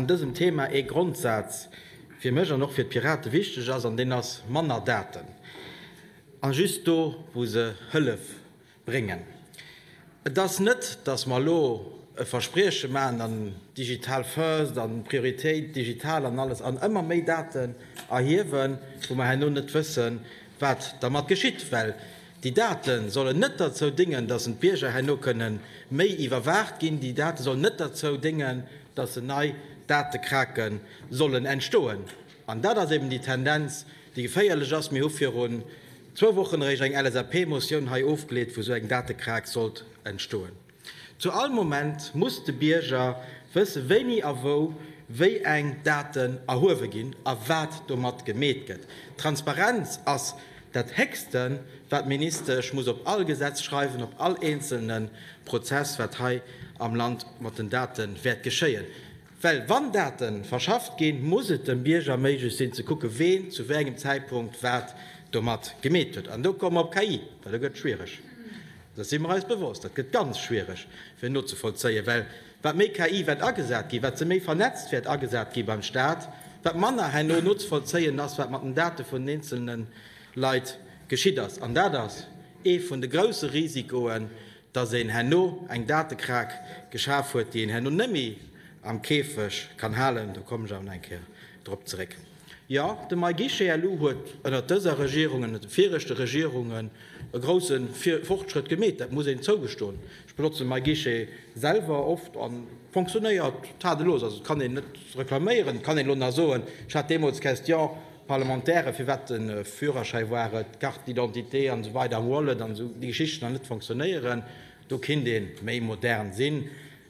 An dësem Thema ee Grondsaz fir mech an och fir d'Pirate wichteg ass, an deen ass, manner Daten, a just do wou se Hëllef bréngen. Et ass net, dass mer elo e Versprieche maachen an Digital first an Prioritéit digital an alles an ëmmer méi Daten erhiewen, wou mer herno net wëssen, wat dermat geschitt. Well déi Date sollen net derzou déngen, dass d'Bierger herno kënnen méi iwwerwaacht ginn. Déi Date sollen net derzou déngen, dass se nei Datekrake sollen entstoen. An dat ass eben déi Tendenz, déi geféierlech ass. Mir hu virun zwou Wochen eréischt eng LSAP-Motioun hei ofgeleet, wou esou eng Datekraack sollt entstoen. Zu all Moment muss de Bierger wëssen, wéini a wou wéi eng Daten erhuewe ginn a wat domat gemeet gëtt. Transparenz ass dat Héchste, wat d'Ministesch muss op all Gesetz schreiwen, op all eenzelne Prozess, wat hei am Land mat den Date wäert geschéien. Well wann Date verschafft ginn, muss et dem Bierger méiglech sinn ze kucken, ween zu wéi engem Zäitpunkt wat domat gemeet huet. An do komme mer op KI, well do gëtt et schwiereg. Dessen si mer eis bewosst. Dat gëtt ganz schwiereg fir nozevollzéien, well wat méi KI wäert agesat ginn, wat se méi vernetzt wäert agesat ginn beim Staat, wat manner herno nozevollzéien ass, wat mat den Date vun den eenzelne Leit geschitt ass. An dat ass ee vun de grouse Risikoen, dass een herno eng Datekrake geschaf huet, déi een herno net méi am Käfeg kann halen, do kommen ech awer nach eng Kéier drop zeréck. Jo, de MyGuichetlou huet ënnert dëser Regierung, ënnert de viregte Regierungen e grouse Fortschrëtt gemeet, dat muss een zougestoen. Ech benotzen MyGuichet selwer oft a fonctionnéiert tadellos, also et kann een net reklaméieren. Et kann een elo nach soen, ech hat deemools d'Question, D'Parlementaire, firwat de Führerschäi war et, d'Carte d'identité an esou weider am Wallet an esou, déi Geschichten an net fonctionnéieren, do kinnt ee méi modern sinn.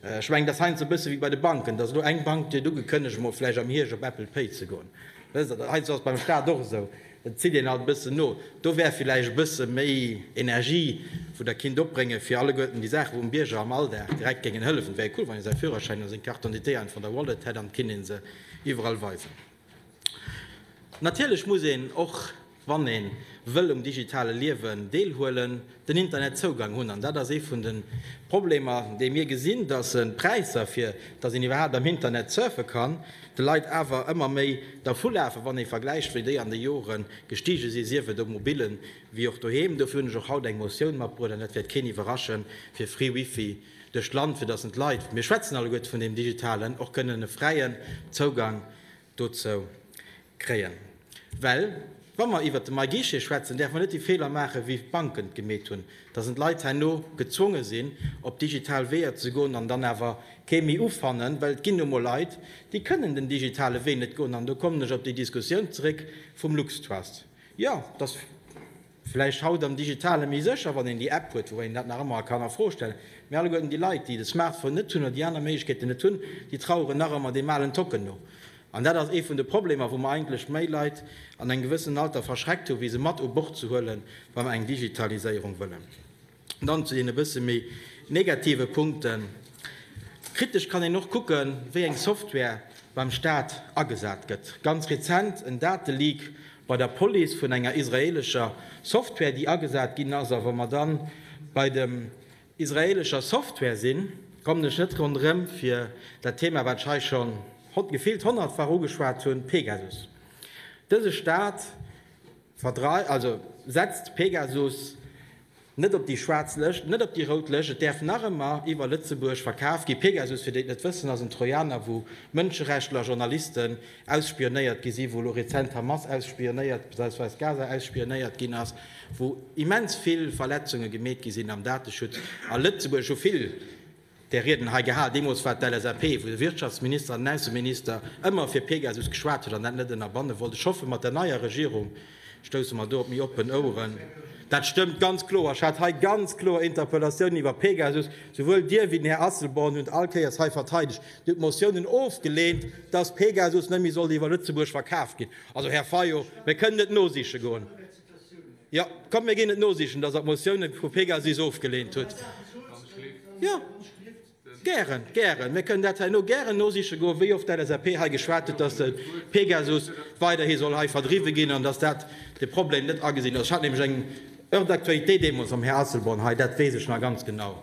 Ech mengen, et ass heiansdo e bësse wéi bei de Banken, dass elo eng Bank kritt ugekënnegt, emol vläicht am Hierscht op Apple Pay ze goen. Wësst Der, heiansdo ass et beim Staat och esou, et zitt een alt e bëssen no. Do wär vläicht e bësse méi Energie, wou Der kinnt opbréngen, fir alleguerten déi Saachen, wou dem Bierger am Alldag direkt géingen hëllefen. Et wär cool, wann ee säi Führerschäin oder seng Carte d'identité einfach an der Wallet hätt an et kinnt ee se iwwerall weisen. Natierlech muss een, och wann ee wëll um digitale Liewen deelhuelen, den Internetzougang hunn. An dat ass ee vun de Problemer, déi mir gesinn, datt d'Präisser, fir datt een iwwerhaapt am Internet surfe kann, de Leit awer ëmmer méi dervulafen, wann ee vergläicht, wéi déi an de Jore gestige sinn, sief et um Mobilen, wéi och doheem. Dofir hunn ech och haut eng Motioun matbruecht, an dat wäert keen iwwerraschen, fir free Wifi duerch d'Land, fir dass en d'Leit, mir schwätzen alleguerte vun deem Digitalen, och kënnen e fräien Zougang dozou kréien. Well wa mer iwwert de MyGuichet schwätzen, däerfe mer net déi Feeler maachen, wéi d'Banken et gemeet hunn, dass en d'Leit herno gezwonge sinn, op digital Weeër ze goen an dann awer kee méi ufannen. Well et ginn nu emol Leit, déi kënnen den digitale Wee net goen. An do kommen ech op déi Diskussioun zeréck vum LuxTrust. Jo, dass. Vläicht haut am Digitale méi sécher, wann een déi App huet, woubäi een dat nach ëmmer kann a Fro stellen. Mee alleguerten déi Leit, déi de Smartphone net hunn oder déi aner Méiglechkeeten net hunn, déi traueren nach ëmmer deem alen Tocken no. An dat ass ee vun de Problemer, wou mer eigentlech méi Leit an engem gewëssenen Alter verschreckt hu wéi se mat u Bord ze huelen, wa mer eng Digitaliséierung wëllen. Dann zu deene bësse méi negative Punkten. Kritesch kann een och kucken, wéi eng Software beim Staat agesat gëtt. Ganz rezent en Dateleak bei der Police vun enger israeelescher Software, déi agesat ginn ass. A wa mer dann bei dem israeelescher Software sinn, kommen ech net ronderëm fir dat Thema, wat ech hei schonn gefillt honnertfach ugeschwat hunn, Pegasus. Dëse Staat Verdreift, also setzt Pegasus net op déi schwaarz Lëscht, net op déi rout Lëscht. Et däerf nach ëmmer iwwer Lëtzebuerg verkaf ginn. Pegasus, fir déi et net wëssen, ass en Trojaner, wou Mënscherechtler, Journalisten ausspionéiert gi sinn, wou elo rezent d'Hamas ausspionéiert bzw. Gaza ausspionéiert ginn ass, wou immens vill Verletzunge gemeet gi sinn am Dateschutz. A Lëtzebuerg hu vill där Rieden hei gehal, deemools war et d'LSAP, wou de Wirtschaftsminister an den Ausseminister ëmmer fir Pegasus geschwat huet an dat net ënnerbanne wollt. Ech hoffen, mat der neier Regierung stousse mer do op méi oppen Oueren. Dat stëmmt ganz kloer. Ech hat hei ganz kloer Interpellatiounen iwwer Pegasus. Souwuel Dir wéi den Här Asselborn hunn et all Kéiers hei verteidegt. Dir hutt Motiounen ofgeleent, dass Pegasus net méi sollt iwwer Lëtzebuerg verkaf ginn. Also, Här Fayot, mir kënnen et nosiche goen. Ja, komm, mir ginn et nosichen, dass Der d'Motioune vu PEGASIS ofgeleent hutt. Ja, gären, gären. Mir kënnen dat herno gären nosiche goen, wéi oft d'LSAP hei geschwat huet, dass de PEGASUS weiderhi soll hei verdriwwe ginn an dass dat de Problem net agesinn ass. Ech hat nämlech eng Heure d'actualité deemools mam Här Asselborn hei, dat weess ech nach ganz genau.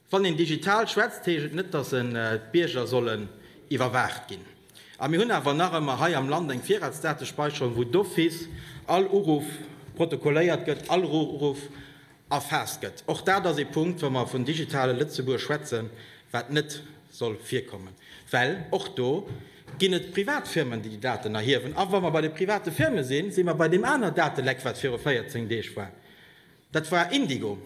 Wann een digital schwätzt, heescht et net, dass en d'Bierger sollen iwwerwaacht ginn. A mir hunn awer nach ëmmer hei am Land eng Virratsdatespäicherung, wou d'office all Uruff protokolléiert gëtt, all Uruff erfaasst gëtt. Och dat ass ee Punkt, wa mer vun digitale Lëtzebuerg schwätzen, wat net soll virkommen, well och do ginn et Privatfirmen, déi déi Daten erhiewen. A wa mer bei de private Firme sinn, si mer bei deem aner Dateleck, wat viru 14 Deeg war. Dat war Indigo.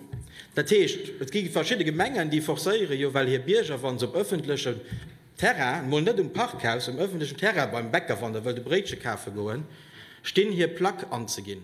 Dat heescht, et gi verschidde Gemengen, déi forcéiere jo well hir Bierger, wa se op ëffentlechem Terrain, mol net um Parkhaus, um ëffentlechen Terrain beim Bäcker, wann Der wëllt e Bréitche kafe goen, stinn, hir Plack anzeginn.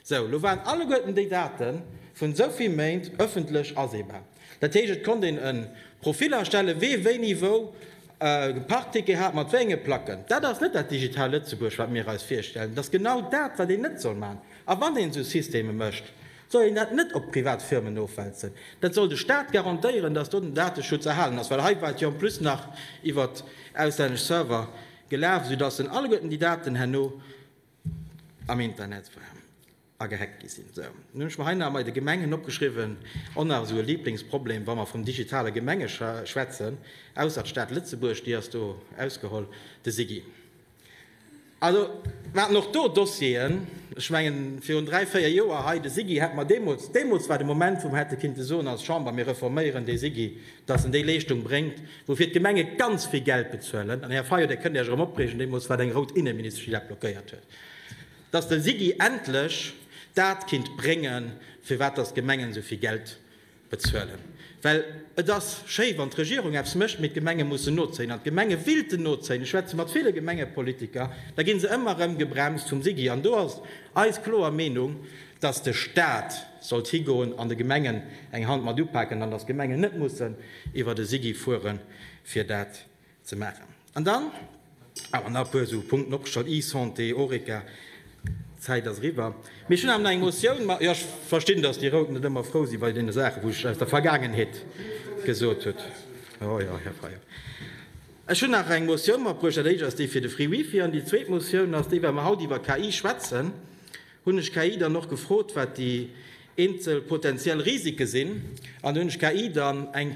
Sou, lo waren alleguerten déi Date vun esou vill Méint ëffentlech aseebar. Dat heescht, et konnt een e Profil erstellen, wee wéini wou e Parkticket hat, mat wéi enge Placken. Dat ass net dat Digital Lëtzebuerg, wat mir eis virstellen. Et ass genau dat, wat een net soll maachen. A wann een esou Systeme mécht, soll een dat net op privat Firmen ofwälzen. Dat soll de Staat garantéieren, datt do den Dateschutz erhalen ass, well hei war et jo en plus nach iwwer auslännesch Server gelaf, esoudatt en alleguerten déi Daten herno am Internet waren a gehackt gi sinn. Esou, nun hunn ech mer hei nach emei de Gemengen opgeschriwwen, och nach esou e Lieblingsproblem, wa mer vum digitale Gemenge schwätzen, ausser d'Stad Lëtzebuerg, déi ass do ausgeholl, de SIGI. Also, mer haten och do Dossieren, ech mengen, virun dräi, véier Joer hei, de SIGI hätte mer deemools, deemools war de Moment, wou mer hätte kinnte soen als Chamber, mir reforméieren dee SIGI, dass en déi Leeschtung bréngt, woufir d'Gemenge ganz vill Geld bezuelen. An, Här Fayot, Dir kënnt Iech erëm opreegen, deemools war et eng rout Inneministesch, déi dat blockéiert huet, dass de SIGI endlech dat kinnt bréngen, firwat dass d'Gemengen esou vill Geld, bezuelen, well et ass schéi wann d'Regierung eppes mécht, mee d'Gemenge mussen nozéien an d'Gemenge willten nozéien. Ech schwätze mat ville Gemengepolitiker, da gi se ëmmer erëm gebremst vum SIGI an do ass eis kloer Meenung, datt de Staat sollt higoen an de Gemengen eng Hand mat upaken an datt d'Gemengen net mussen iwwert e SIGI fuere fir dat ze maachen. An dann awer nach e puer esou Punkten opgestallt, eSanté, Horeca. D'Zäit ass eriwwer. Mee ech hunn awer nach eng Motioun. Ma jo, ech verstinn, dass déi Rout net ëmmer frou si bei deene Saachen, wou ech aus der Vergaangenheet gesot hutt. Jo, jo, Här Fayot. Ech hunn nach eng Motioun matbruecht. Dat éischt ass déi fir de Free Wifi. An déi zweet Motioun ass déi, well mer haut iwwer KI schwätzen, hunn ech KI dann och gefrot, wat déi eenzel potentiell Risike sinn. An do hunn ech KI dann eng.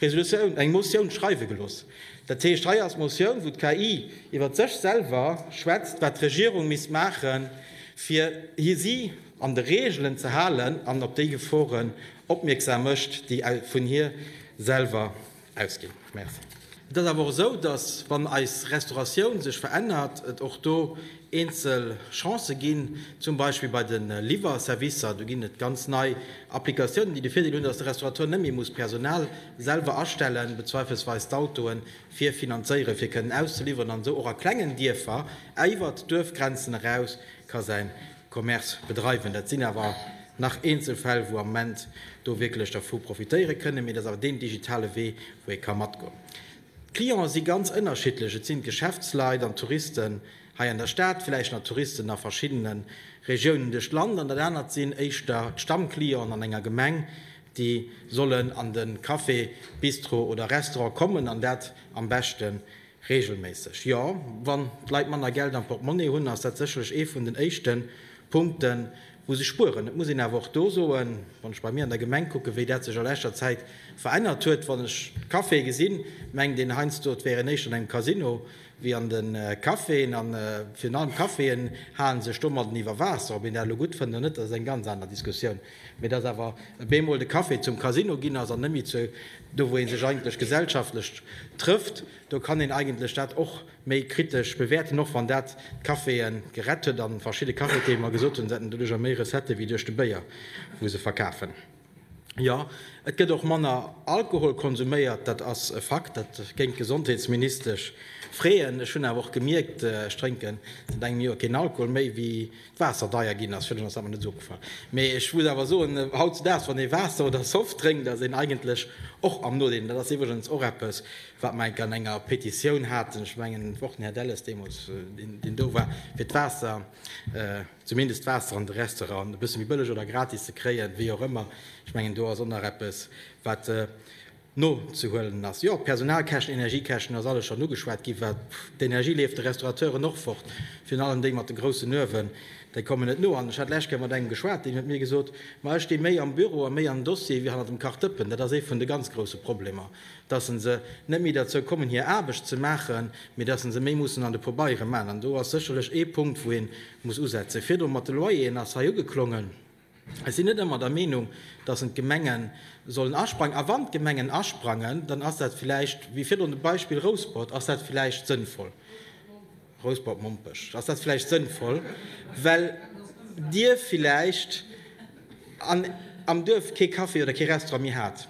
Resolutioun, eng Motioun schreiwe gelooss. Dat heescht, hei ass d'Motioun, wou d'KI iwwert sech selwer schwätzt, wat d'Regierung misst maache fir si an de Reegelen ze halen an op déi Geforen opmierksam mécht, déi vun hir selwer ausginn. Merci. Et ass awer och esou, datt, wann eis Restauratioun sech verännert, et och do eenzel Chancë ginn, zum Beispill bei de Liwwerservicer. Do ginn et ganz nei Applikatiounen, déi de Virdeel hunn, datt de Restaurateur net méi muss Personal selwer astellen, bezweifelsweis d'Autoe fir finanzéieren, fir kënnen auszeliwweren, an esou och a klengen Dierfer iwwert d'Duerfgrenzen eraus ka säi Commerce bedreiwen. Dat sinn awer nach eenzel Fäll, wou am Moment do wierklech dervu profitéiere kënnen, mee dat ass awer deen digitale Wee, wou ee ka matgoen. D'Clienten si ganz ënnerschiddlech, et sinn d'Geschäftsleit an d'Touristen hei an der Stad, villäicht nach Touristen a verschiddene Regiounen duerch d'Land, an dat anert sinn éischter d'Stammclienten an enger Gemeng, déi sollen an de Café, Bistro oder Restaurant kommen, an dat am beschte reegelméisseg. Jo, wann d'Leit manner Geld am Portemonnaie hunn, ass dat sécherlech ee vun den éischte Punkten, wou se spueren. Et muss een awer och do soen, wann ech bei mir an der Gemeng kucken, wéi dat sech a leschter Zäit verännert huet, wann ech Caféë gesinn, mengt een heiansdo, et wär een éischter an engem Casino wéi an de Caféen. A virun allem d'Caféen hale sech domadden iwwer Waasser. Ob een dat elo gutt fënnt oder net, dat ass eng ganz aner Diskussioun. Mee datt awer e bemol de Café zum Casino ginn ass an net méi do, wou ee sech eigentlech gesellschaftlech trëfft, do kann een eigentlech dat och méi kritesch bewäerten, och wann dat d'Caféë gerett huet a verschidde Cafetiere mer gesot hunn, se hätten doduercher méi Recettë wéi duerch de Béier, wou se verkafen. Jo, et gëtt och manner Alkohol konsuméiert, dat ass e Fakt, dat géing d'Gesondheetsministesch freeën. Ech hunn awer och gemierkt, ech drénken säit engem Joer keen Alkohol méi, wéi d'Waasser deier ginn ass. Virduerno ass dat mer net esou opgefall. Mee ech muss awer soen, hautzedaags, wann ee Waasser oder Soft drénkt, ass een eigentlech och am Nodeel. Dat ass iwwregens och eppes, wat mer enk an enger Petitioun haten, ech mengen et war och den Här Delles deemools, deen do war, fir d'Waasser, zumindest d'Waasser an de Restauranten e bësse méi bëlleg oder gratis ze kréien, wéi och ëmmer. Ech mengen do ass och nach eppes, wat nozehuelen ass. Jo, Personalkäschten, Energiekäschten, ass alles schonn ugeschwat ginn, wat d'Energie leeft de Restaurateuren och fort, virun allem déi mat de groussen Uewen, déi kommen net no. An ech hat d'lescht Kéier mat engem geschwat, deen huet mir gesot, ma ech sti méi am Büro a méi am Dossier wéi hanner dem Kachdëppen, dat ass ee vun de ganz grousse Problemer, dass se net méi derzou kommen hir Aarbecht ze maachen, mee dass se méi mussen an de Pobeiere man. An do ass sécherlech ee Punkt wou ee muss usetzen. Virdru mat de Loyeren ass hei ugeklongen. Ech sinn net ëmmer der Meenung, dass en d'Gemenge sollen asprangen. A wann d'Gemengen asprangen, dann ass dat vläicht, wéi virdrun de Beispill Rouspert, ass dat vläicht sënnvoll. Rouspert Mompech, Ass dat vläicht sënnvoll, well Dir vläicht an am Duerf kee Café oder kee Restaurant méi hat?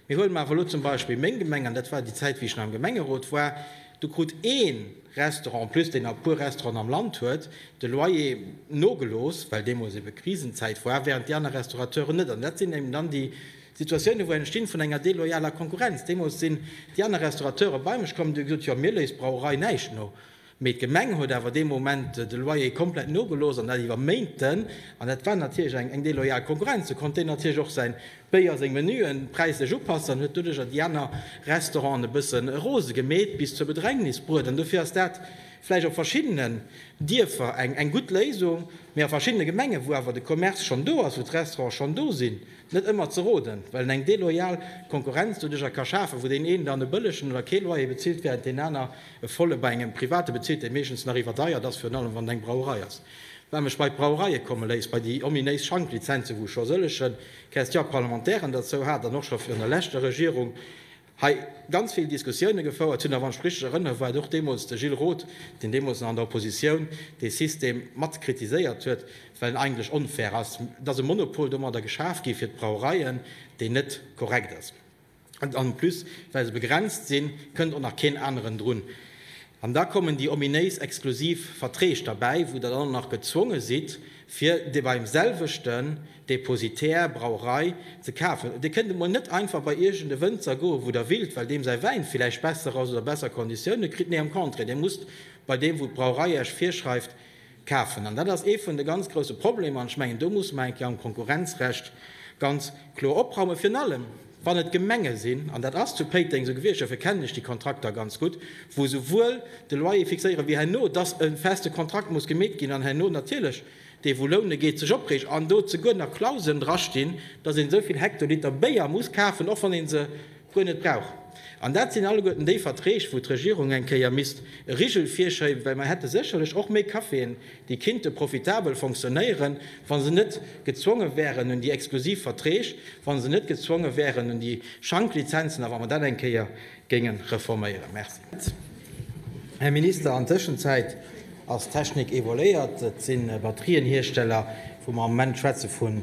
Mee huele mer awer elo zum Beispill meng Gemeng, an dat war déi Zäit, wéi ech nach am Gemengerot war, do krut ee Restaurant, en plus deen nach e puer Restauranten am Land huet, de Loyer nogelooss, well deemools ebe Krisenzäit war, während déi aner Restaurateuren net. An dat sinn eben dann déi. Situatioune wou entstinn vun enger deloyaler Konkurrenz. Deemools sinn déi aner Restaurateure bei mech komm, déi hu gesot, jo mir léisst d'Brauerei näischt no. Mee d'Gemeng huet awer dee Moment de Loyer komplett nogelooss an dat iwwer Méinten. An dat war natierlech eng deloyal Konkurrenz. Sou konnt deen natierlech och säi Béier, seng Menuen präislech upassen an huet doduercher déi aner Restauranten e bësse rose gemeet bis zur Bedrängnis bruet. An dofir ass dat vläicht op verschiddene Dierfer eng gutt Léisung, mee a verschiddene Gemenge wou awer de Commerce schonn do ass, wou d'Restaurante schonn do sinn, Net ëmmer ze roden, well en eng deloyal Konkurrenz doduerch a ka schafen, wou deen een dann e bëllegen oder kee Loyer bezilt, während deen aner e volle bei engem Private bezilt, dee meeschtens nach iwwerdeiert ass, virun allem wann et eng Brauerei ass. Wat mech bei d'Brauereie komme léisst, bei déi ominéis Schanklizenzen, wou scho sëllege Question-parlementairen derzou hat an och scho virun der leschter Regierung, hei ganz vill Diskussioune gefouert hunn, a wann ech richtig erënnere war et och deemools de Gilles Roth, deen deemools nach an der Oppositioun dee System mat kritiséiert huet, well en eigentlech onfair ass. Et ass e Monopol domadder geschaf gi fir d'Brauereien, deen net korrekt ass. An en plus, well se begrenzt sinn, kënnt och nach keen aneren drun. An da kommen déi ominéis exklusiv Verträg derbäi, wou Der dann och nach gezwonge sidd, fir beim selwechten, Depositär, Brauerei, ze kafen. Dir kënnt emol net einfach bei iergend e Wënzer goen, wou der willt, well deem säi Wäin villäicht besser ass oder besser Konditioune kritt. Nee, am Contraire, dir musst bei deem, wou d'Brauerei iech virschreift, kafen. An dat ass ee vun de ganz grousse Problemer. An ech mengen, do muss mer eng Kéier am Konkurrenzrecht ganz kloer opraumen. Virun allem, wann et Gemenge sinn, an dat ass zu Péiteng esou gewiescht, dofir kennen ech déi Kontrakter ganz gutt, wou esouwuel de Loyer fixéieren, wéi herno, dass e feste Kontrakt muss gemeet ginn an herno natierlech, dee wou loune geet, sech opreegt an do zeguer nach Clausen drastinn, dass een esou vill Hektoliter Béier muss kafen, och wann een se guer net brauch. An dat sinn alleguerten déi Verträg, wou d'Regierung eng Kéier misst e Rigel virschéiben, well mer hätte sécherlech och méi Caféen, déi kinnte profitabel fonctionnéieren, wa se net gezwonge wären un déi exklusiv Verträg, wa se net gezwonge wären un déi Schanklizenzen. A wa mer dat eng Kéier géinge reforméieren. Merci, Här Minister. An Tëschenzäit ass d'Technik evoluéiert. Et si Batterienhiersteller, wou mer am Moment schwätze vun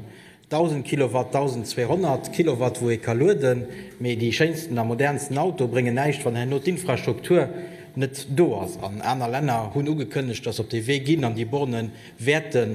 1.000 Kilowatt, 1.200 Kilowatt, wou ee ka lueden. Mee déi schéinsten a modernsten Autoe bréngen näischt, wann herno d'Infrastruktur net do ass. An aner Länner hunn ugekënnegt, dass se op dee Wee ginn an déi Borne wäerte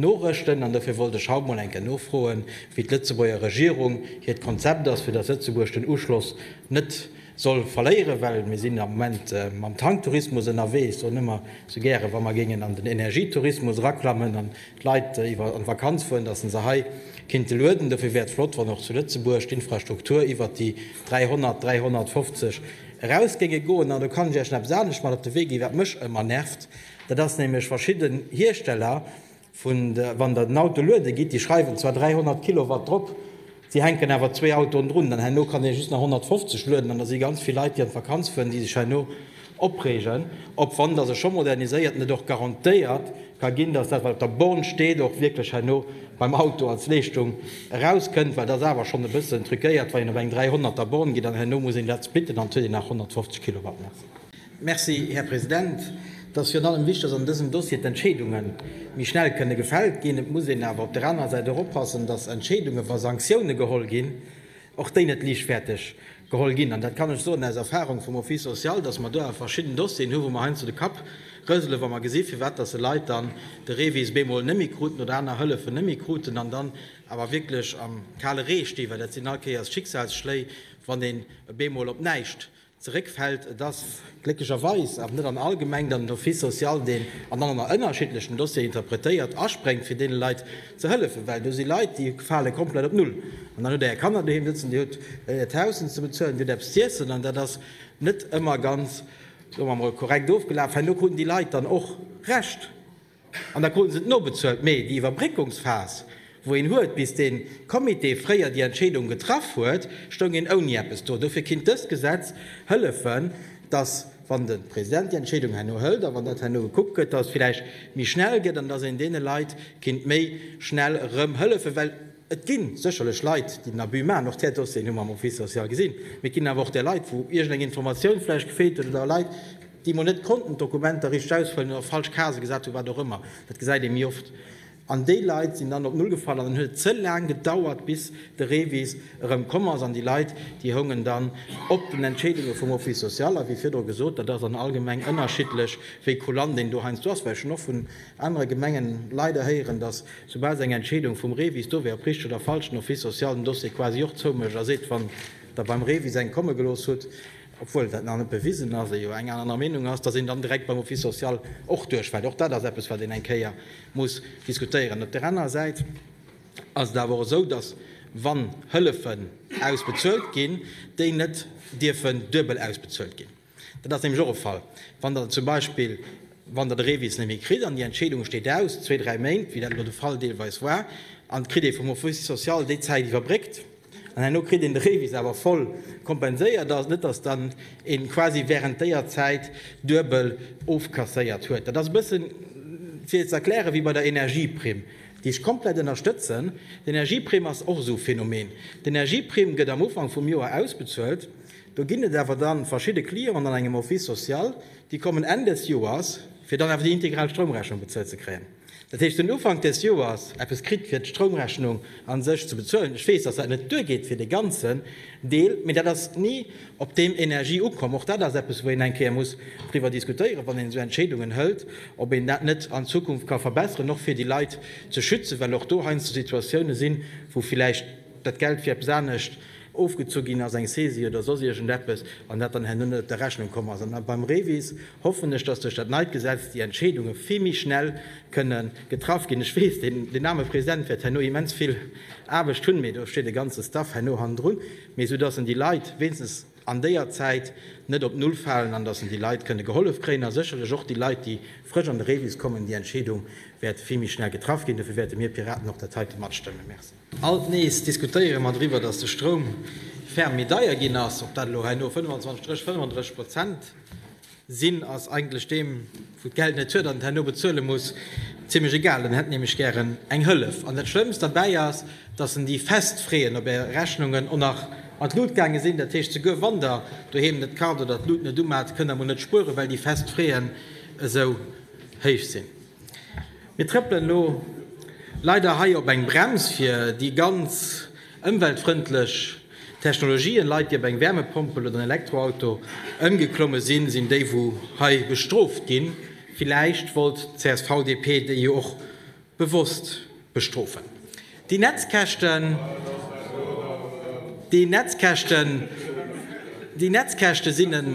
norëschten. An dofir wollt ech haut emol eng Kéier nofroen, wéi d'Lëtzebuerger Regierung hiert Konzept ass, fir dass Lëtzebuerg den Uschloss net soll verléieren, well mir sinn am Moment mam Tanktourismus ënnerwee. Ech soen ëmmer esou gären, wa mer géingen an den Energietourismus eraklammen an d'Leit iwwer an d'Vakanz fueren, dass se se hei kinnte lueden. Dofir wär et flott, wann och zu Lëtzebuerg d'Infrastruktur iwwert déi 300, 350 eraus géinge goen. An do kann ech Iech nach eppes anescht mat op de Wee ginn, wat mech ëmmer nervt, dat ass nämlech verschidden Hiersteller, Vun der, wann der den Auto luede gitt, déi schreiwen zwar 300 Kilowatt drop, si hänken awer zwee Autoen drun, dann herno kann ee just nach 150 lueden. An da si ganz vill Leit, déi an d'Vakanz fueren, déi sech herno opreegen, ob, wann der se scho moderniséiert, net och garantéiert ka ginn, dass dat, wat op der Born steet, och wierklech herno beim Auto als Leeschtung erauskënnt. Well dat ass awer schonn e bëssen truquéiert, wann een op eng 300 er Born geet an herno muss een dat splitten, dann huet een nach 150 Kilowatt méi. Merci, Här President. Et ass virun allem wichtig, dass an dësem Dossier d'Entscheedunge méi schnell kënne gefält ginn. Et muss een awer op der anerer Säit och oppassen, dass Entscheedungen, wa Sanktioune geholl ginn, och déi net liichtfäerteg geholl ginn. An dat kann ech soen aus Erfahrung vum Office social, dass mer do awer verschidden Dossieren hunn, wou mer heiansdo de Kapp rëselen, wa mer gesinn, firwat dass e Leit dann de REVIS bemol net méi kruten oder aner Hëllefen net méi kruten an dann awer wierklech am kale Ree stinn, well dat sinn all Kéiers Schicksalsschléi, wann een bemol op näischt zeréckfält. Et ass glécklecherweis awer net an all Gemeng, datt den Office social deen an allen ënnerschiddlechen Dossieren interpretéiert, aspréngt fir deene Leit ze hëllefen, well do si Leit, déi fale komplett op Null. An dann hutt Der Är Kanner doheem sëtzen, Dir hutt Äert Haus ze bezuelen, Dir hutt eppes z'iessen, an dat ass net ëmmer ganz, soe mer emol, korrekt ofgelaf. Herno kruten déi Leit dann och Recht. An da kruten se et nobezuelt. Mee déi Iwwerbréckungsphas, wou een huet, bis dee Comité fréier déi Entscheedung getraff huet, stoung een ouni eppes do. Dofir kinnt dëst Gesetz hëllefen, dass, wann de President déi Entscheedung herno hëlt a wann dat herno gekuckt gëtt, dass et vläicht méi schnell gëtt an dass een deene Leit kinnt méi schnell erëm hëllefen. Well et gi sécherlech Leit, déi den Abus maachen. Och där Dossieren hu mer am Office social gesinn. Mee et ginn awer och där Leit, wou iergendeng Informatioun vläicht gefeelt huet oder Leit, déi emol net konnten d'Dokumenter richteg ausfëllen oder falsch Casë gesat hunn, wat och ëmmer, dat gesäit ee méi oft, an déi Leit sinn dann op Null gefall an dann huet et ze laang gedauert, bis de Revis erëm komm ass an déi Leit, déi houngen dann op den Entscheedunge vum Office social. A wéi virdru gesot, dat ass an all Gemeng ënnerschiddlech, wéi kulant een do heiansdo ass, well ech hunn och vun anere Gemengen leider héieren, datt soubal se eng Entscheedung vum Revis do wär, ob richteg oder falsch, den Office social den Dossier quasi och zoumécht a seet, wann Der beim Revis eng komme gelooss hutt, obwuel dat nach net bewisen ass, ee jo eng aner Meenung ass, datt een dann direkt beim Office social och duerchfält. Och dat ass eppes, wat een eng Kéier muss diskutéieren. Op där anerer Säit ass et awer och esou, datt, wann Hëllefen ausbezuelt ginn, déi net dierfen duebel ausbezuelt ginn. Dat ass nämlech och e Fall, wann Der zum Beispill, wann Der de Revis net méi kritt an déi Entscheedung steet aus, zwee, dräi Méint, wéi dat elo de Fall deelweis war, an et kritt ee vum Office social déi Zäit iwwerbréckt, An herno kritt een de Revis awer voll kompenséiert. Ass net, dass dann een quasi während déier Zäit duebel ofkasséiert huet. Dat ass e bëssen fir ze erklären wéi bei der Energieprimm, déi ech komplett ënnerstëtzen. D'Energieprimm ass och esou e Phänomen. D'Energieprimm gëtt am Ufank vum Joer ausbezuelt. Do ginn et awer dann verschidde Clienten an engem Office social, déi kommen Enn des Joers, fir dann awer déi integral Stroumrechnung bezuelt ze kréien. Dat heescht, den Ufank des Joers eppes kritt, fir d'Stroumrechnung a sech ze bezuelen. Ech weess, dass dat net duergeet fir dee ganzen Deel, mee dat ass ni op deem Energie ukomm. Och dat ass eppes, wou een eng Kéier muss driwwer diskutéieren, wann een esou Entscheedungen hëlt, ob een dat net an Zukunft ka verbesseren, och fir déi Leit ze schützen, well och do heiansdo Situatiounen sinn, wou villäicht dat Geld fir eppes anescht ofgezu ginn ass, eng Saisie oder soss iergendeppes, an dat dann herno net op der Rechnung komm ass. An beim REVIS hoffen ech, dass duerch dat neit Gesetz déi Entscheedunge vill méi schnell kënne getraff ginn. Ech weess, deen aarme President wäert herno immens vill Aarbecht hunn, mee do steet e ganze Staff herno hannendrun, mee esou dass en déi Leit wéinstens an déier Zäit net op Null falen an dass en déi Leit kënne gehollef kréien a sécherlech och déi Leit, déi frësch an de Rebis kommen, déi Entscheedung wäert vill méi schnell getraff ginn. Dofir wäerte mir Piraten och dat heite matstëmmen. Merci. Alt nees diskutéiere mer driwwer, datt de Stroum ferm méi deier ginn ass. Ob dat elo herno 25 Strich 35 Prozent sinn, ass eigentlech deem, wou d'Geld net huet an et herno bezuele muss, zimlech egal. En hätt nämlech gären eng Hëllef. An dat Schlëmmst derbäi ass, datt en déi fest Freeën op Är Rechnungen och nach an d'Lut gaange sinn. Dat heescht, souguer wann Der doheem net kart oder d'Lut net umat, kënnt Der mol net spueren, well déi fest Freeën esou héich sinn. Mir trëppelen elo leider hei op eng Brems fir déi ganz ëmweltfrëndlech Technologien. Leit déi op eng Wärmepompel oder en Elektroauto ëmgeklomme sinn, sinn déi wou hei bestrooft ginn. Villäicht wollt d'CSV-DP déi jo och bewosst Bestrofen. Déi Netzkäschten, déi Netzkäschten, déi Netzkäschte sinn en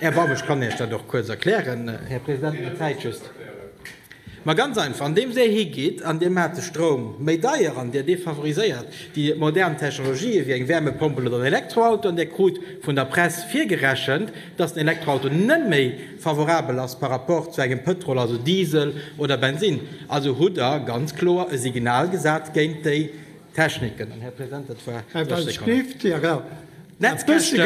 Erbarmen. Ech kann Iech dat och kuerz erklären, Här President, mä d'Zäit just. Mä ganz einfach, andeems Dir higeet an Dir maacht de Stroum méi deier an Dir defavoriséiert déi modern Technologië wéi eng Wärmepompel oder en Elektroauto an Dir krut vun der Press virgerechent, dass den Elektroauto net méi, Favorabel ass par rapport zu engem Pëtrol, also Diesel oder Bensinn. Also hutt Der ganz kloer e Signal gesat géint déi Techniken. An, Här President, dat war 30 Sekonnen. D'Netzkäschten,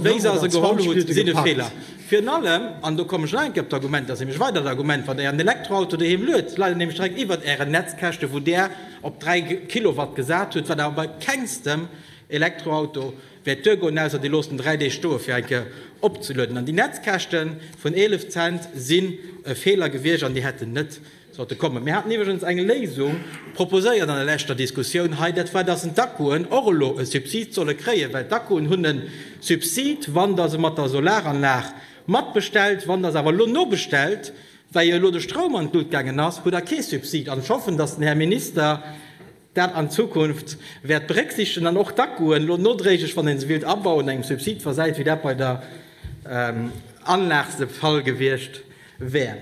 wéi se se geholl hutt, sinn e Feeler. Virun allem, an do kommen ech nach eng Kéier op d'Argument, dat ass nämlech e weidert Argument, wann Der Ären Elektroauto doheem luet, leit en nämlech direkt iwwert Ären Netzkäschte wou Der op 3 Kilowatt gesat hutt, wat awer bei kengstem Elektroauto Wäert duer goen, ausser dir loosst en 3 Deeg stoe fir eng Kéier opzelueden. An déi Netzkäschte vun 11 Cent sinn e Feeler gewiescht an déi hätten net sollte kommen. Mir haten iwwregens eng Léisung proposéiert an der leschter Diskussioun hei, dat war, dass d'Akkuen och elo e Subsid solle kréien, well d'Akkuen hunn e Subsid, wann Der se mat der Solaranlag matbestellt. Wann Der se awer elo nobestellt, well jo elo de Stroum an d'Lut gaangen ass, hutt Der kee Subsid. An ech hoffen, dass den Här Minister dat an Zukunft wäert berécksiichtegen an och d'Akkuen elo nodréiglech, wann ee se willt abauen, engem Subsid versäit, wéi dat bei der Anlag de Fall gewiescht wär.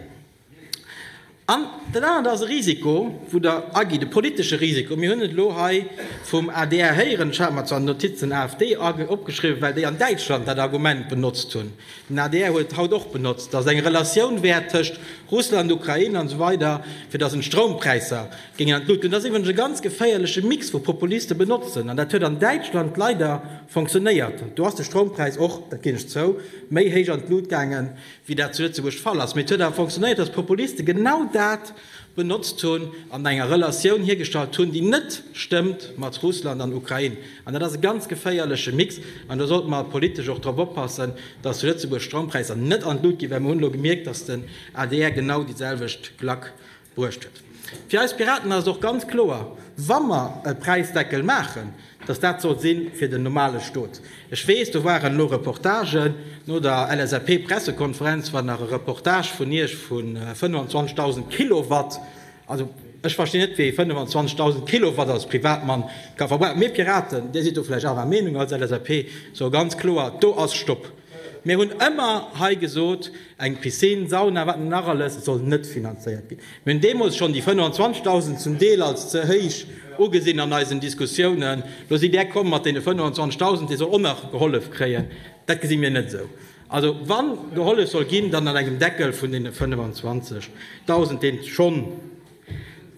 An dat anert ass e Risiko, wou Der agitt, e politesche Risiko. Mir hunn et elo hei vum adr héieren, ech hat mer zwar d'Notiz den AfD opgeschriwwen, well déi an Däitschland dat Argument benotzt hunn, den adr huet et haut och benotzt, datt et eng Relatioun wär tëscht Russland, Ukrain an esou weider, fir datt een d'Stroumpräisser Géing an d'Luut. Deen ass iwwregens e ganz geféierleche Mix wou Populiste benotzen, an dat huet an Däitschland leider fonctionnéiert. Do ass de Stroumpräis och, dat ginn ech zou, méi héich an d'Luut gaange wéi dat zu Lëtzebuerg d'Fall ass, mee et huet awer fonctionnéiert, dass d'Populiste genau dat benotzt hunn an enger Relatioun hiergestallt hunn, déi net stëmmt mat Russland an Ukrain. An dat ass e ganz geféierleche Mix an do sollte mer politesch och drop oppassen, dass zu Lëtzebuerg d'Stroumpräisser net an d'Luut ginn, well mer hunn elo gemierkt, dass den adr genau déi selwecht Klack Bruecht huet. Fir eis Piraten ass et och ganz kloer, wa mer e Präisdeckel maachen, dass dat soll si fir den normale Stot. Ech weess, do waren elo Reportagen no der LSAP-Pressekonferenz, war nach e Reportage vun Iech vu 25.000 Kilowatt. Also, ech verstinn net, wéi ee 25.000 Kilowatt als Privatmann ka verbrauchen. Mir Piraten, Dir sidd do vläicht anerer Meenung als LSAP, soe ganz kloer, do ass Stopp! Mir hunn ëmmer hei gesot, eng Piscine, Sauna, wat net nach alles, soll net finanzéiert ginn. Mir hunn deemools schonn déi 25.000 zum Deel als ze héich ugesinn an eisen Diskussiounen. Lo sidd Där komm mat deene 25.000, dee soll och nach gehollef kréien. Dat gesi mir net esou. Also wa gehollef soll ginn, dann an engem Deckel vun deene 25.000, dee schonn,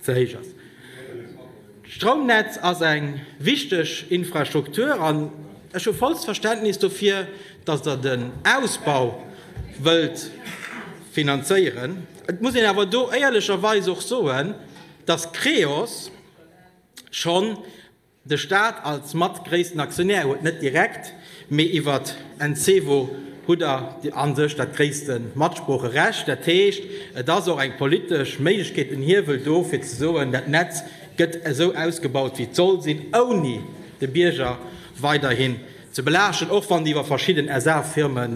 ze héich ass. D'Stroumnetz ass eng wichteg Infrastruktur an ech hu vollst Verständnis dofir, datt Der den Ausbau wëllt finanzéieren. Et muss een awer do éierlecherweis och soen, datt Creos schonn De Staat als mat gréissten Aktionär huet net direkt, mee iwwert Encevo hutt der a sech dat gréisste Matsproocherecht. Dat heescht, et ass och eng politesch Méiglechkeet, en Hiewel do, fir ze soen, dat Netz gëtt esou ausgebaut, wéi et soll sinn, ouni de Bierger weiderhin ze belaaschten. Och wann déi iwwer verschidden SA-Firme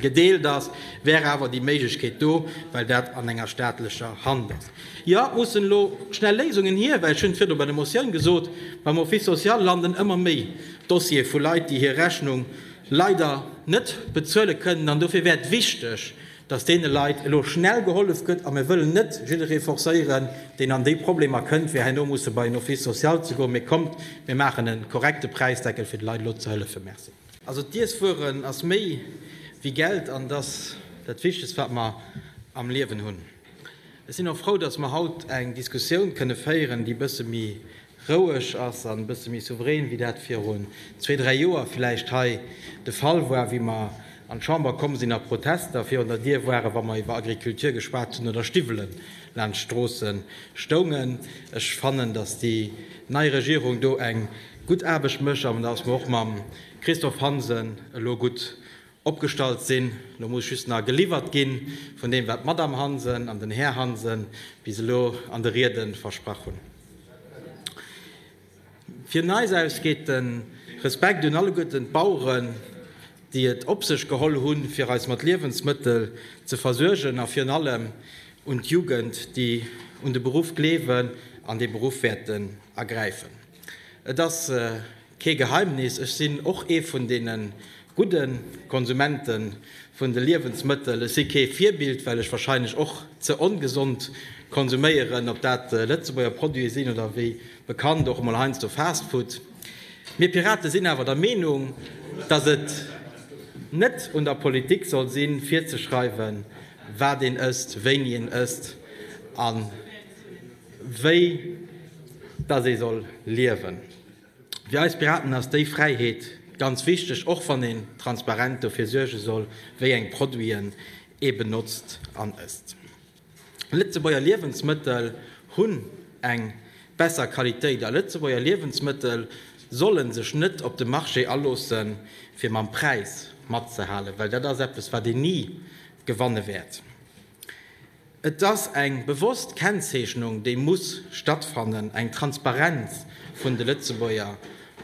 gedeelt ass, wär awer déi Méiglechkeet do, well dat an enger staatlecher Hand ass. Jo, et mussen elo schnell Léisungen hier, well, ech hunn et virdu bei der Motioun gesot, beim Office social landen ëmmer méi Dossiere vu Leit, déi hir Rechnung leider net bezuele kënnen. An dofir wär et wichteg, dass deene Leit elo schnell gehollef gëtt. A mir wëllen net jidderee forcéieren, deen an déi Problemer kënnt, fir herno musse bei en Office social ze goen. Mee kommt, mir maachen e korrekte Präisdeckel, fir de Leit elo ze hëllefen. Merci. Also d'Iesswueren ass méi wéi Geld an et ass dat Wichtegst, wat mer am Liewen hunn. Ech sinn och frou, dass mer haut eng Diskussioun kënne féieren, déi e bësse méi roueg ass an e bësse méi souverän, wéi dat virun zwee, dräi Joer vläicht hei de Fall war, wéi mer an d'Chamber komm sinn a Protester virun der Dier waren, wa mer iwwer Agriculture geschwat hunn oder Stiwwelen laanscht d'Stroosse stoungen. Ech fannen, dass déi nei Regierung do eng gutt Aarbecht mécht an dass mer och mam Christophe Hansen elo gutt opgestallt sinn. Elo muss just nach geliwwert gi vun deem, wat d'Madame Hansen an den Här Hansen bis elo an de Riede versprach hunn. Vun eis aus geet de Respekt un alleguerten d'Baueren, déi et op sech geholl hunn, fir eis mat Liewensmëttel ze versuergen, a virun allem un d'Jugend, déi un de Beruff gleewen an dee Beruff wäerten ergräifen. Et ass. Kee Geheimnis, ech sinn och ee vun deene gudde Konsumente vun de Liewensmëttel. Ech si kee Virbild, well ech wahrscheinlech och ze ongesond konsuméieren, ob dat Lëtzebuerger Produite sinn oder wéi bekannt och emol heiansdo Fastfood. Mir Pirate sinn awer der Meenung, datt et net un der Politik soll sinn, virzeschreiwen, wat een ësst, wéini een ësst a wéi datt ee soll liewen. Fir eis Piraten ass déi Fräiheet ganz wichteg, och wann een transparent dofir suerge soll, wéi eng Produiten ee benotzt an ësst. Lëtzebuerger Liewensmëttel hunn eng besser Qualitéit a Lëtzebuerger Liewensmëttel solle sech net op de Marché aloosse fir mam Präis matzehalen, well dat ass eppes wat een ni gewanne wäert. Et ass eng bewosst Kennzeechnung, déi muss stattfannen, eng Transparenz vun de Lëtzebuerger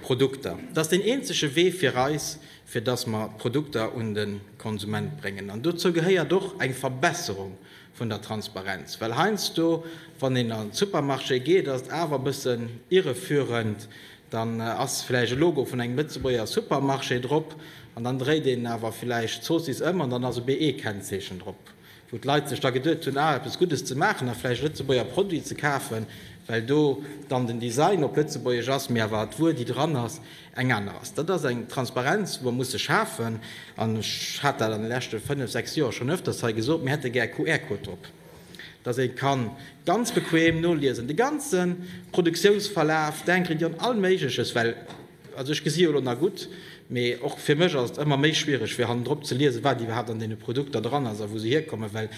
Produkter. Dat ass deen eenzege Wee fir eis, fir datt mer d'Produkter un de Konsument bréngen. An dozou gehéiert och eng Verbesserung vun der Transparenz. Well heiansdo, wann een an de Supermarché geet, ass et awer e bëssen irreführend, Dann ass villäicht e Logo vun engem Lëtzebuerger Supermarché drop an dann dréit een awer villäicht d'Zoossiss ëm an dann ass e BE-Kennzeechen drop, wou d'Leit sech da geduet hunn, ah, eppes Guddes ze maachen a villäicht e Lëtzebuerger Produit ze kafen, well do dann den Design op Lëtzebuergesch ass, mee awer d'Wuer, déi dran ass, eng aner ass. Dat ass eng Transparenz, wou mer musse schafen an ech hat dat an de leschte fënnef, sechs Joer schonn öfters hei gesot, mir hätte gär QR-Code drop. dass ee ka ganz bequem noliesen, de ganze Produktiounsverlaf, denken dir un all Méigleches, well, also ech gesi jo elo nach gutt, mee och fir mech ass et ëmmer méi schwiereg, fir hannendrop ze liesen, wat iwwerhaapt an deene Produkter dran ass a wou se hierkommen, well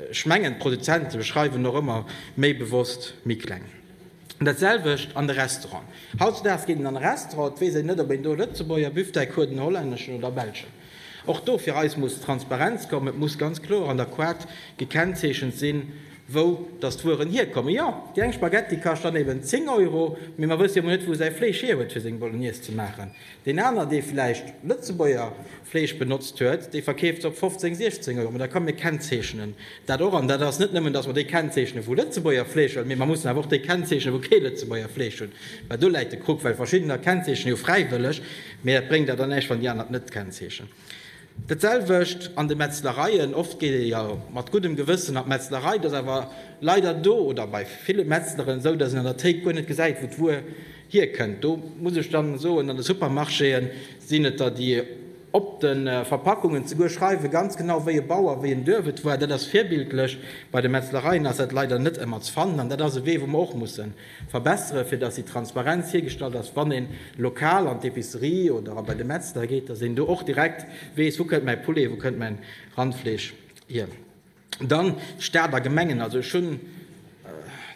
ech mengen, d'Produzente schreiwen och ëmmer méi bewosst méi kleng. Dat selwecht an de Restauranten. Hautzedaags geet een an e Restaurant, et weess een net, ob een do e Lëtzebuerger Büfftei kruet, en hollänneschen oder e belschen. Och do fir eis muss Transparenz kommen. Et muss ganz kloer an der Koart gekennzeechent sinn, wou datt d'Wueren hierkommen. Jo, déi eng Spaghetti kascht dann eben 10 Euro, mee mer wësse jo emol net, wou säi Fleesch hierhuet, fir seng Bolognese ze maachen. Deen aner, dee vläicht Lëtzebuerger Fleesch benotzt huet, dee verkeeft se op 15, 16 Euro. Mä da kommen, mir kennzeechnen dat och. An dat ass net nëmmen, datt mer déi kennzeechnen, wou Lëtzebuerger Fleesch hunn, mee mer mussen awer och déi kennzeechnen, wou kee Lëtzebuerger Fleesch hunn. Well do läit de Krux, well verschiddener kennzeechnen jo fräiwëlleg, mee dat bréngt der dann näischt, wann déi aner et net kennzeechnen. Dat selwecht an de Metzlereien. Oft geet ee jo mat guddem Gewëssen an d'Metzlerei. Et ass awer leider do oder bei ville Metzleren esou, datt een an der Théik guer net gesäit, wou d'Wuer hierkënnt. Do muss ech da soen, an de Supermarchéë sinn et der, déi op de Verpackungen zeguer schreiwe ganz genau, wéi e Bauer, wéi en Duerf et war. Dat ass virbildlech. Bei de Metzlereien ass dat leider net ëmmer ze fannen. An dat ass e Wee, wou mer och mussen Verbessere fir dass déi Transparenz hiergestallt ass, wann een lokal an d'Epicerie oder a bei de Metzler geet, dass een do och direkt weess, wou kënnt mäi Poulet, wou kënnt mäin Randfleesch hier. Dann Staat a Gemengen, also ech hunn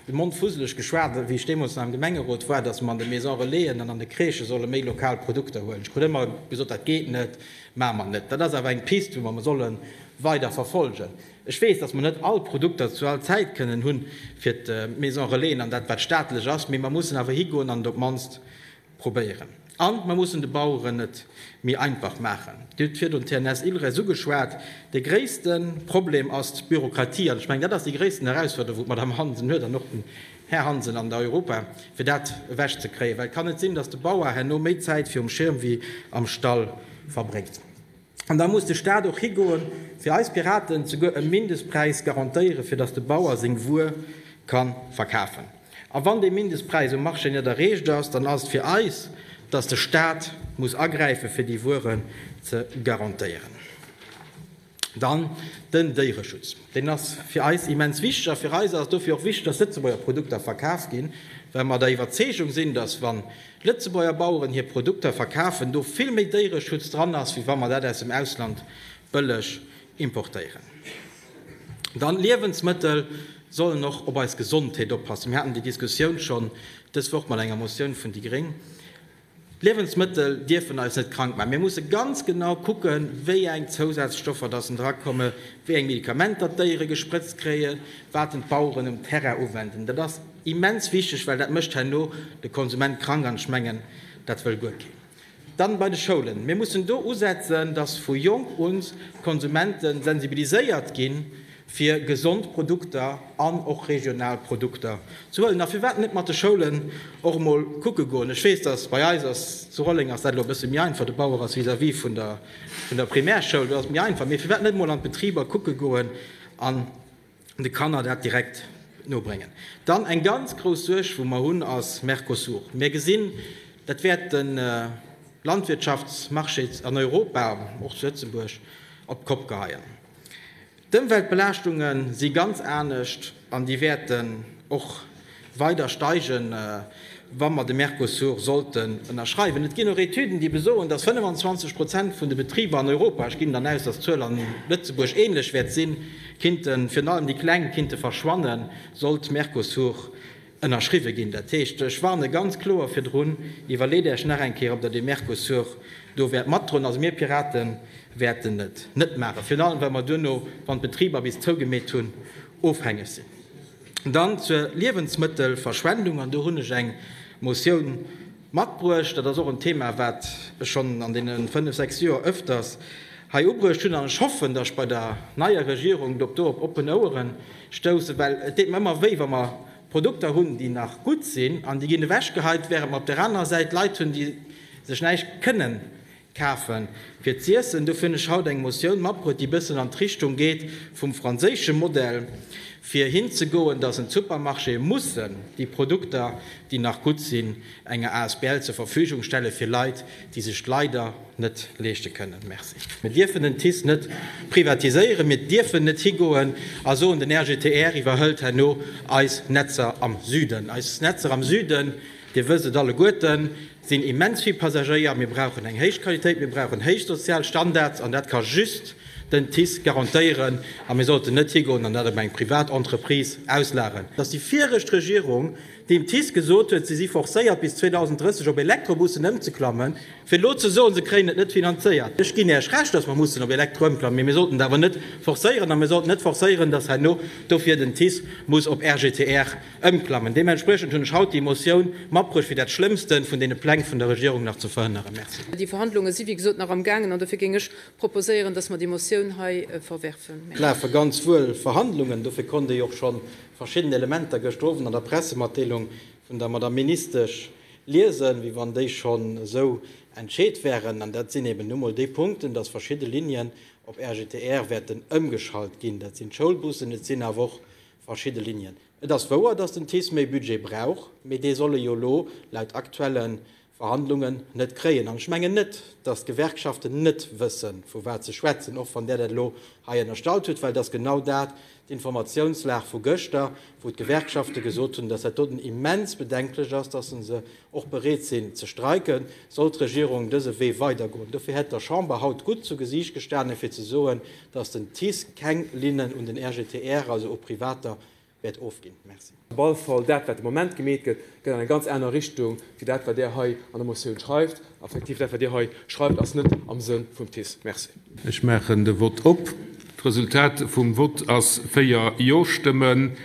de Mond fusseleg geschwat wéi ech deemools nach am Gemengerot war, dass mer an de Maison Relaisen an an de Crèchë solle méi lokal Produkter huelen. Ech krut ëmmer gesot, dat geet net, maache mer net. Dat ass awer eng Piste wou mer solle weider verfolgen. Ech weess, dass mer net all Produkter zu all Zäit kënnen hu fir d'Maison Relaisen an dat wat staatlech ass, mee mer mussen awer higoen an et op d'mannst probéieren. An mer mussen de Baueren et méi einfach maachen. Dir hutt virdrun d'TNS Ilres ugeschwat. De gréisste Problem ass d'Bürokratie an ech mengen, dat ass déi gréissten Herausforderung, wou d'Madame Hansen huet an och den Här Hansen an der Europa, fir dat ewech ze kréien, well et kann net sinn, dass de Bauer herno méi Zäit virum Schirm wéi am Stall verbréngt. An da muss de Staat och higoe fir eis Piraten souguer e Mindestpräis garantéiere fir datt de Bauer seng Wuer ka verkafen. A wann dee Mindestpräis um Marché net erreecht ass, dann ass et fir eis, datt de Staat muss agräife fir déi Wueren ze garantéieren. Dann den Déiereschutz. Deen ass fir eis immens wichteg. A fir eis ass et dofir och wichteg, datt Lëtzebuerger Produkter verkaf ginn, well mer der Iwwerzeegung sinn, datt wann Lëtzebuerger Baueren hir Produkter verkafen, do vill méi Déiereschutz dran ass, wéi wa mer dat aus dem Ausland bëlleg importéieren. Dann, Liewensmëttel sollen och op eis Gesondheet oppassen. Mir haten déi Diskussioun schonn dës Woch mat enger Motioun vun déi Gréng. D'Liewensmëttel dierfen eis net krank maachen. Mir musse ganz genau kucken, wéi eng Zousazstoffer datt en dra komme, wéi eng Medikamenter d'Déiere gesprëtzt kréien, wat en d'Baueren um Terrain uwenden. Immens wichteg, well dat mécht herno de Konsument krank, an ech mengen, dat wëll guer keen. Dann bei de Schoulen. Mir mussen do usetzen, dass vu jonk un d'Konsumente sensibiliséiert ginn, fir gesond Produkter an och regional Produkter ze huelen. A firwat net mat de Schoulen och emol kucke goen? Ech weess, dass bei eis ass, zu Rolleng ass dat elo e bësse méi einfach, de Bauer ass vis-à-vis vun der Primärschoul, do ass et méi einfach, mee firwat net emol an d'Betriber kucke goen an de Kanner dat direkt nobréngen. Dann eng ganz grouss Suerg wou mer hunn ass Mercosur. Mir gesinn, dat wäert de Landwirtschaftsmarché an Europa, och zu Lëtzebuerg, op d'Kopp geheien. D'Ëmweltbelaaschtunge si ganz anescht an déi wäerten och weider steigen, wa mer de Mercosur sollten ënnerschreiwen. Et ginn och Etüden, déi besoen, dass 25 Prozent vun de Betriber an Europa, ech ginn dann aus, dass d'Zuel an Lëtzebuerg ähnlech wäert sinn, kinnten, virun allem déi Kleng, kinnte verschwannen, sollt Mercosur ënnerschriwwe ginn. Dat heescht, ech warne ganz kloer virdrun, Iwwerleet Äerch nach eng Kéier, ob Der dee Mercosur do wäert matdroen. Also mir Pirate wäerten et net maachen, virun allem, well mer duerno, wann d'Betriber bis zougemeet hunn, ofhängeg sinn. Dann zur Liewensmëttelverschwendung, an do hunn ech eng Motioun matbruecht. Dat ass och en Thema, wat ech schonn an deene fënnf, sechs Joer öfters hei ubruecht hunn, an ech hoffen, dass ech bei der neier Regierung do op oppen Ouere stoussen, well et deet mer ëmmer wéi, wa mer Produkter hunn, déi nach gutt sinn, an déi ginn ewechgeheit, während mer op där anerer Säit Leit hunn, déi sech näischt kënnen Kafen fir z'iessen. Dofir hunn ech haut eng Motioun matbruet, déi bëssen an d'Richtung geet vum franséische Modell, fir hinzegoen, dass en d'Supermarchéë mussen déi Produkter, déi nach gutt sinn, enger Asbl zur Verfügung stelle fir Leit, déi sech d'leider net leeschte kënnen. Merci. Mir dierfen den TICE net privatiséieren. Mir dierfen net higoen a soen, den RGTR iwwerhëlt herno eis Netzer am Süden. Eis Netzer am Süden, Dir wësst et alleguerten, sinn immens vill Passagéier, mir brauchen eng héich Qualitéit, mir brauchen héich sozial Standards an dat ka just den TICE garantéieren a mir sollten net higoen an dat op eng privat Entreprise auslageren. Dass déi viregt Regierung dem TICE gesot huet, si si forcéiert bis 2030 op Elektrobussen ëmzeklammen, fir elo ze soen, se kréien et net finanzéiert, ech ginn Iech Recht, dass mer mussen op Elektro ëmklammen, mee mir sollten et awer net forcéieren a mir sollten net forcéieren, dass herno dofir den TICE muss op RGTR Ëmklammen. Deementspriechend hunn ech haut déi Motioun matbruecht, fir dat Schlëmmsten vun deene Pläng vun der Regierung nach ze verhënneren. Merci. Déi Verhandlunge si wéi gesot nach am gaangen an dofir géing ech proposéieren, dass mer déi Motioun hei verwerfen. Et lafe ganz wuel Verhandlungen, dofir konnt Dir jo och scho verschidden Elementer gëschter Owend an der Pressematdeelung vun der Madame Ministesch liesen, wéi wann déi schonn esou entscheet wären. An dat sinn eben nu mol déi Punkten, dass verschidde Linien op RGTR wäerten ëmgeschalt ginn. Dat sinn d'Schoulbussen, et sinn awer och Verschidde Linien. Et ass wouer, datt den TICE méi Budget brauch, mee dee soll e jo elo laut aktuelle Verhandlungen net kréien. An ech mengen net, datt d'Gewerkschaften net wësse vu wat se schwätzen, och wann Der dat elo hei ënnerstallt hutt, well et ass genau dat d'Informatiounslag vu gëschter, wou d'Gewerkschafte gesot hunn, datt dat doten immens bedenklech ass, datt se se och bereet sinn ze streiken, soll d'Regierung dëse Wee weidergoen. Dofir hätt der Chamber haut gutt zu Gesiicht gestanen, fir ze soen, datt den TICE keng Linnen un den RGTR, also u Privater, wäert ofginn. Merci. Op alle Fall, dat, wat de Moment gemeet gëtt, geet an eng ganz aner Richtung wéi dat, wat Der hei an der Motioun schreift. A effektiv, dat, wat Dir hei schreift, ass net am Sënn vum TICE. Merci. Ech maachen de Vott op. D'Resultat vum Vott ass 4 Jo-Stëmmen,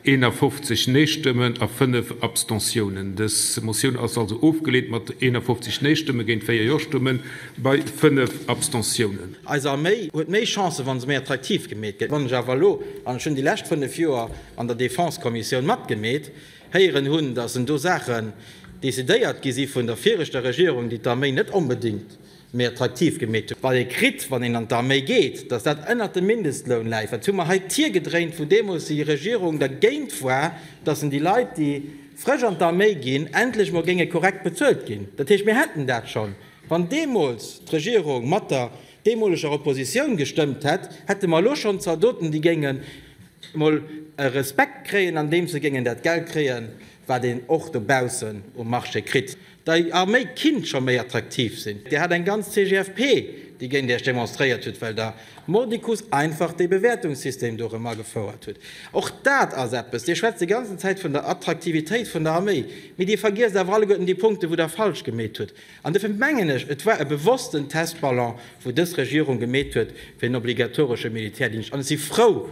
51 Nee-Stëmmen a 5 Abstentiounen. Dës Motioun ass also ofgeleent, mat 51 Nee-Stëmme géint 4 Jo-Stëmme bei 5 Abstentiounen. Eis Arméi huet méi Chancen, wa se méi attraktiv gemeet gëtt. Wann ech awer elo, an ech hunn déi lescht 5 Joer an der Defense-Kommissioun matgemeet, héieren hunn, datt do Saachen decidéiert gi si vun der viregter Regierung, déi d'Arméi net onbedéngt méi attraktiv gemeet hunn, wat ee kritt, wann een an d'Arméi geet, datt dat ënnert dem Mindestloun läit, wat hu mer hei d'Tier gedréint, wou deemools déi Regierung dergéint war, datt en déi Leit, déi frësch an d'Arméi ginn, endlech emol géinge korrekt bezuelt ginn. Dat heescht, mir hätten dat schonn, wann deemools d'Regierung mat der deemoleger Oppositioun gestëmmt hätt, hätte mer elo schonn Zaldoten, déi géingen emol e Respekt kréien, andeems se géingen dat Geld kréien, wat een och dobaussen um Marché kritt. Dei Arméi kinnt scho méi attraktiv sin. Dir hat eng ganz CGFP déi géint iech demonstréiert huet well der mordicus einfach dee Bewäertungssystem do rem agefouert hutt. Och dat ass eppes, dir schwätzt déi ganzen Zäit vun der Attraktivitéit vun der Arméi, mee dir vergiesst awer alleguerten déi Punkte wou der falsch gemeet hutt. An dofir mengen ech et war e bewossten Testballon wou dës Regierung gemeet huet fir en obligatoresche Militärdingscht an ech si frou,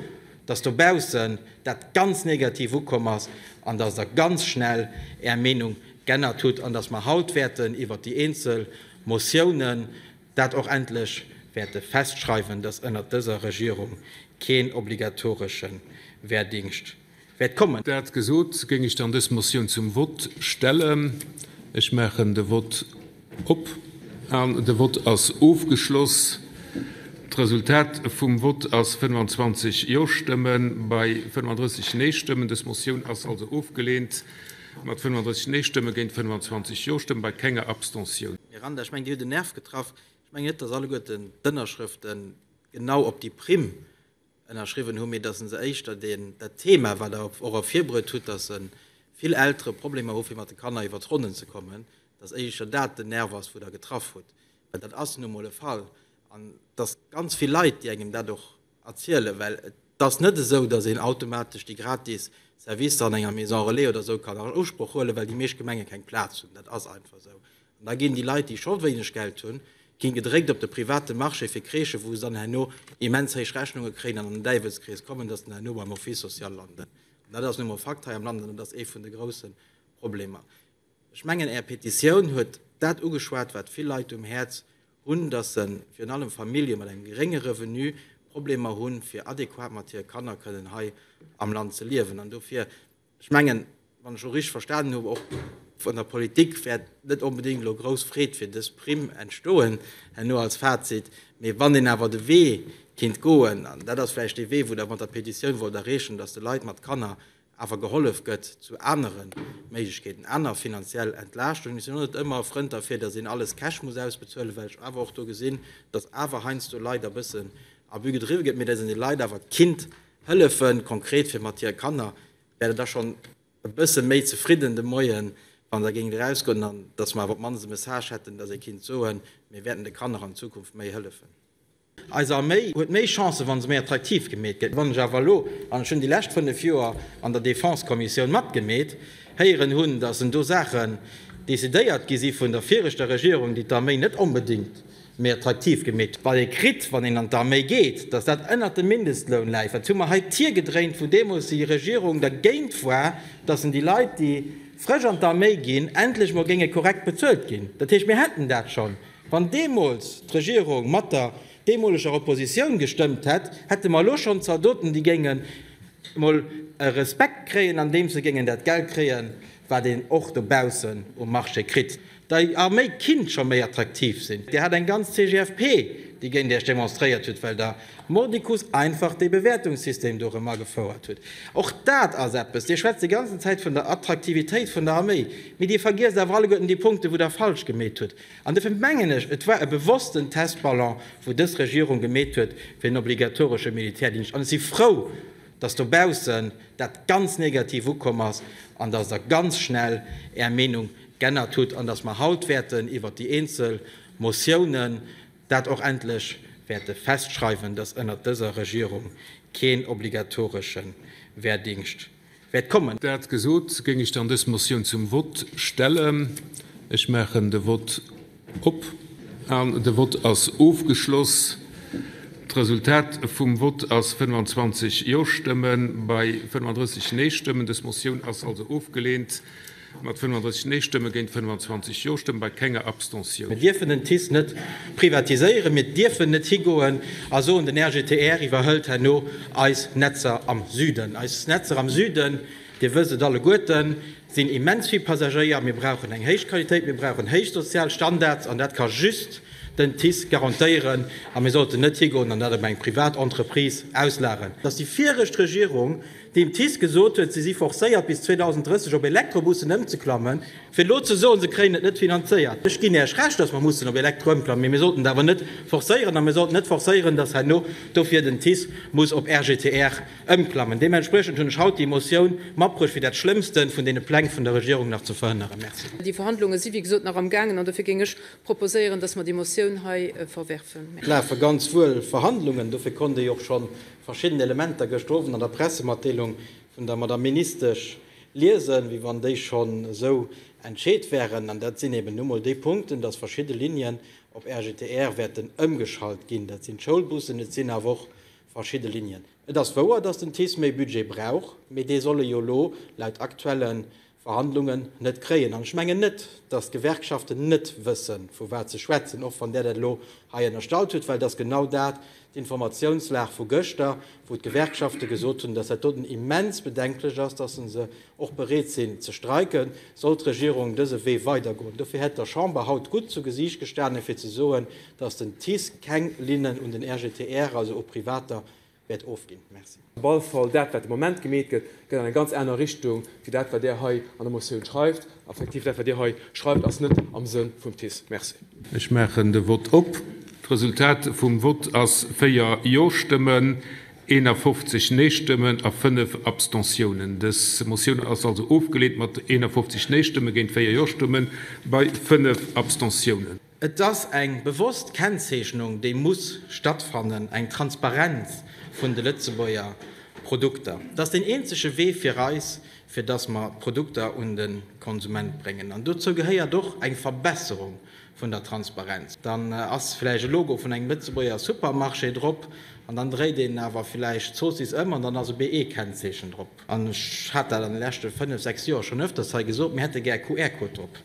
dass dobaussen dat ganz negativ ukomm ass an dass Der ganz schnell Är Meenung g'ännert hutt an dass mer haut wäerten iwwert déi eenzel Motiounen dat och endlech wäerte festschreiwen, dass ënnert dëser Regierung keen obligatoresche Wehrdingscht wäert kommen. Dat gesot, géing ech dann dës Motioun zum Vott stellen. Ech maachen de Vott. Op an de Vott ass ofgeschloss. D'Resultat vum Vott ass 25 Jo-Stëmme bei 35 Nee-Stëmmen. Dës Motioun ass also ofgeleent, mat 35 Nee-Stëmme géint 25 Jo-Stëmme bei kenger Abstention. Miranda, ech mengen Dir hutt en Nerv getraff. Ech mengen net, datt alleguerten d'Ënnerschrëfte genau op déi Primm ënnerschriwwen hunn, mee dass e se éischter deen, dat Thema, wat Der och ervirbruet hutt, dass vill Eltere Problemer hu fir mat de Kanner iwwer d'Ronnen ze kommen, dass éischer dat den Nerv ass, wou Der getraff hutt, well dat ass nu emol e Fall. An et ass ganz vill Leit, déi engem dat och erzielen, well et ass net esou, dass een automatesch déi gratis Servicer an enger Maison relais oder esou kann an Usproch huelen, well déi meescht Gemenge keng Plaz hunn. Dat ass einfach esou. An da ginn déi Leit, déi scho wéineg Geld hunn, ginn gedréckt op de private Marché fir Crèchen, wou se dann herno immens héich Rechnunge kréien an an den Däiwelskrees kommen, dass se dann herno beim Office social landen. An dat ass nu emol e Fakt hei am Land an dat ass ee vun de grousse Problemer. Ech mengen Är Petitioun huet dat ugeschwat, wat vill Leit um Häerz hunn, dass se, virun allem Famillje mat engem gerénge Revenu, Problemer hunn, fir adequat mat hire Kanner kënnen hei am Land ze liewen. An dofir Ech mengen, wann ech och richteg verstanen hunn, och vun der Politik wäert net onbedéngt elo grouss Freed fir dës Primm entstoen herno als Fazit. Mee wann een awer de Wee kinnt goen, an dat ass vläicht dee Wee, wou Der mat der Petitioun wollt erreechen, datt de Leit mat Kanner awer gehollef gëtt zu anere Méiglechkeeten, aner finanziell Entlaaschtungen. Ech sinn och net ëmmer e Frënd derfir, datt een alles cash muss ausbezuelen, well ech awer och do gesinn, datt awer heiansdo Leit e bëssen Abus gedriwwe gëtt, mee datt een de Leit awer kinnt Hëllefen, konkret fir mat hire Kanner, wär der da schonn e bësse méi zefridden de Moien, wann der géingt erausgoen an dass mer awer op d'mannst e Message hätten, dass ee kinnt soen, mir wäerten de Kanner an Zukunft méi hëllefen. Eis Arméi huet méi Chancen, wa se méi attraktiv gemeet gëtt. Wann ech awer elo, an ech hunn déi lescht fënnef Joer an der Défense-Kommissioun matgemeet, héieren hunn, dass en do Saachen decidéiert gi si vun der viregter Regierung, déi d'Arméi net onbedéngt méi attraktiv gemeet, wat ee kritt, wann een an d'Arméi geet, datt dat ënnert dem Mindestloun läit, wat hu mer hei d'Tier gedréint, wou deemools déi Regierung dergéint war, datt en déi Leit, déi frësch an d'Arméi ginn, endlech emol géinge korrekt bezuelt ginn. Dat heescht, mir hätten dat schonn, wann deemools d'Regierung mat der deemoleger Oppositioun gestëmmt hätt, hätte mer elo schonn Zaldoten, déi géingen emol e Respekt kréien, andeems se géingen dat Geld kréien, wat een och dobaussen um Marché kritt, déi a méi kinnt scho méi attraktiv sinn. Dir hat eng ganz CGFP, déi géint Iech demonstréiert huet, well Der mordicus einfach dee Bewäertungssystem do erëm agefouert hutt. Och dat ass eppes, Dir schwätzt déi ganzen Zäit vun der Attraktivitéit vun der Arméi, mee Dir vergiesst awer alleguerten déi Punkte, wou Der falsch gemeet hutt. An duerfir mengen ech, et war e bewossten Testballon, wou dës Regierung gemeet huet, fir en obligatoresche Militärdingscht. An ech si frou, dass dobaussen dat ganz negativ ukomm ass an dass Der ganz schnell Är Meenung g'ännert hutt an dass mer haut wäerten iwwert déi eenzel Motiounen dat och endlech wäerte festschreiwen, dass ënnert dëser Regierung keen obligatoresche Wehrdingscht wäert kommen. Dat gesot, géing ech dann dës Motioun zum Vott stellen. Ech maachen de Vott. Op an de Vott ass ofgeschloss. D'Resultat vum Vott ass 25 Jo-Stëmme bei 35 Nee-Stëmmen. Dës Motioun ass also ofgeleent, mat 35 Nee-Stëmme géint 25 Jo-Stëmme bei kenger Abstention. Mir dierfen den TICE net privatiséieren, mir dierfen net higoen a soen, den RGTR iwwerhëlt herno eis Netzer am Süden. Eis Netzer am Süden, Dir wësst et alleguerten, sinn immens vill Passagéier, mir brauchen eng héich Qualitéit, mir brauchen héich sozial Standards an dat ka just den TICE garantéieren a mir sollten net higoen an dat op eng privat Entreprise auslageren. Dass déi viregt Regierung dem TICE gesot huet, si si forcéiert bis 2030 op Elektrobussen ëmzeklammen, fir elo ze soen, se kréien et net finanzéiert, ech ginn Iech Recht, dass mer mussen op Elektro ëmklammen, mee mir sollten et awer net forcéieren a mir sollten net forcéieren, dass herno dofir den TICE muss op RGTR Ëmklammen. Deementspriechend hunn ech haut déi Motioun matbruecht, fir dat Schlëmmste vun deene Pläng vun der Regierung nach ze verhënneren. Merci. Déi Verhandlunge si wéi gesot nach am gaangen an dofir géing ech proposéieren, dass mer déi Motioun hei verwerfen. Et lafe ganz wuel Verhandlungen, dofir konnt ee och scho verschidden Elementer gëschter Owend an der Pressematdeelung vun der Madame Ministesch liesen, wéi wann déi schonn esou entscheet wären. An dat sinn eben nu mol déi Punkten, dass verschidde Linien op RGTR wäerten ëmgeschalt ginn. Dat sinn d'Schoulbussen, et sinn awer och Verschidde Linien. Et ass wouer, datt den TICE méi Budget brauch, mee dee soll e jo elo laut aktuelle Verhandlungen net kréien. An ech mengen net, datt d'Gewerkschaften net wësse vu wat se schwätzen, och wann Der dat elo hei ënnerstallt hutt, well et ass genau dat d'Informatiounslag vu gëschter, wou d'Gewerkschafte gesot hunn, datt dat doten immens bedenklech ass, datt se se och bereet sinn ze streiken, soll d'Regierung dëse Wee weidergoen. Dofir hätt der Chamber haut gutt zu Gesiicht gestanen, fir ze soen, datt den TICE keng Linnen un den RGTR, also u Privater, wäert ofginn. Merci. Op alle Fall, dat, wat de Moment gemeet gëtt, geet an eng ganz aner Richtung wéi dat, wat Der hei an der Motioun schreift. Effektiv, dat, wat Dir hei schreift, ass net am Sënn vum TICE. Merci. Ech maachen de Vott op. D'Resultat vum Vott ass 4 Jo-Stëmmen, 51 Neestëmmen a 5 Abstentiounen. Dës Motioun ass also ofgeleent mat 51 Neestëmme géint 4 Jo-Stëmmen bei 5 Abstentiounen. Et ass eng bewosst Kennzeechnung, déi muss stattfannen, eng Transparenz vun de Lëtzebuerger Produkter. Et ass deen eenzege Wee fir eis, fir dass mer d'Produkter un de Konsument bréngen. An dozou gehéiert och eng Verbesserung vun der Transparenz. Dann ass vläicht e Logo vun engem Lëtzebuerger Supermarché drop an dann dréit een awer vläicht d'Zoossiss ëm an dann ass e BE-Kennzeechen drop. An ech hat dat an de leschte fënnef, sechs Joer schonn öfters hei gesot, mir hätte gär QR-Code drop,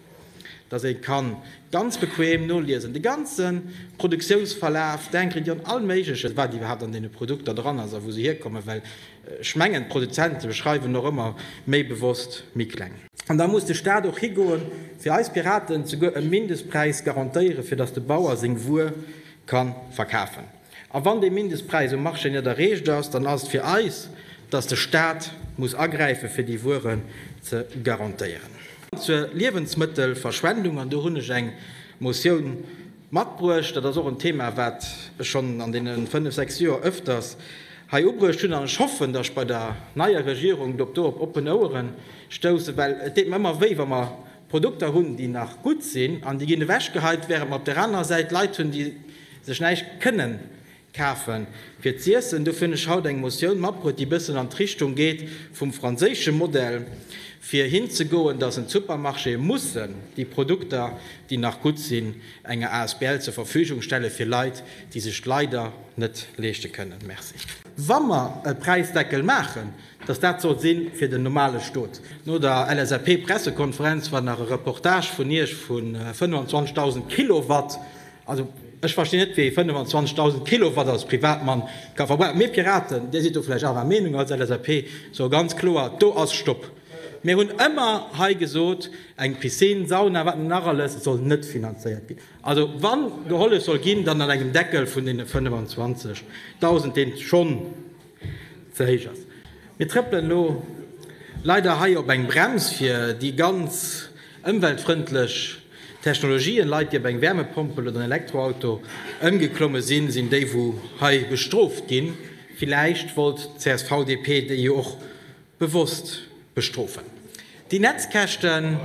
dass ee ka ganz bequem noliesen, de ganze Produktiounsverlaf, d'Ingrédienten, all Méigleches, wat iwwerhaapt an deene Produkter dran ass a wou se hierkommen. Well ech mengen, d'Produzente schreiwen och ëmmer méi bewosst méi kleng. An da muss de Staat och higoen, fir eis Piraten souguer e Mindestpräis garantéieren, fir datt de Bauer seng Wuer ka verkafen. A wann dee Mindestpräis um Marché net erreecht ass, dann ass et fir eis, datt de Staat muss agräifen, fir déi Wueren ze garantéieren. Zur Liewensmëttelverschwendung, an do hunn ech eng Motioun, Matbruecht. Dat ass och en Thema, wat ech schonn an deene fënnef, sechs Joer öfters hei ubruecht hunn. An ech hoffen, dass ech bei der neier Regierung do op oppen Oueren stoussen, well et deet mer ëmmer wéi, wa mer Produkter hunn, déi nach gutt sinn an déi ginn ewechgeheit, während mer op där anerer Säit Leit hunn, déi sech näischt kënnen Kafen fir z'iessen. Dofir hunn ech haut eng Motioun matbruet, déi bëssen an d'Richtung geet vum franséische Modell, fir hinzegoen, dass en d'Supermarchéë mussen déi Produkter, déi nach gutt sinn, enger Asbl zur Verfügung stelle fir Leit, déi sech d'leider net leeschte kënnen. Merci. Wa mer e Präisdeckel maachen, dass dat soll si fir den normale Stot. No der LSAP-Pressekonferenz war nach e Reportage vun Iech vu 25.000 Kilowatt. Also, ech verstinn net, wéi ee 25.000 Kilowatt als Privatmann ka verbrauchen. Mir Piraten, Dir sidd do vläicht anerer Meenung als LSAP, soe ganz kloer, do ass Stopp! Mir hunn ëmmer hei gesot, eng Piscine, Sauna, wat net nach alles, et soll net finanzéiert ginn. Also, wa gehollef soll ginn, dann an engem Deckel vun deene 25.000, deen schonn. ze héich ass. Mir trëppelen elo leider hei op eng Brems fir déi ganz ëmweltfrëndlech Technologien. Leit, déi op eng Wärmepompel oder en Elektroauto ëmgeklomme sinn, sinn déi wou hei bestrooft ginn. Villäicht wollt d'CSV-DP déi jo och Bewosst bestrofen déi Netzkäschten.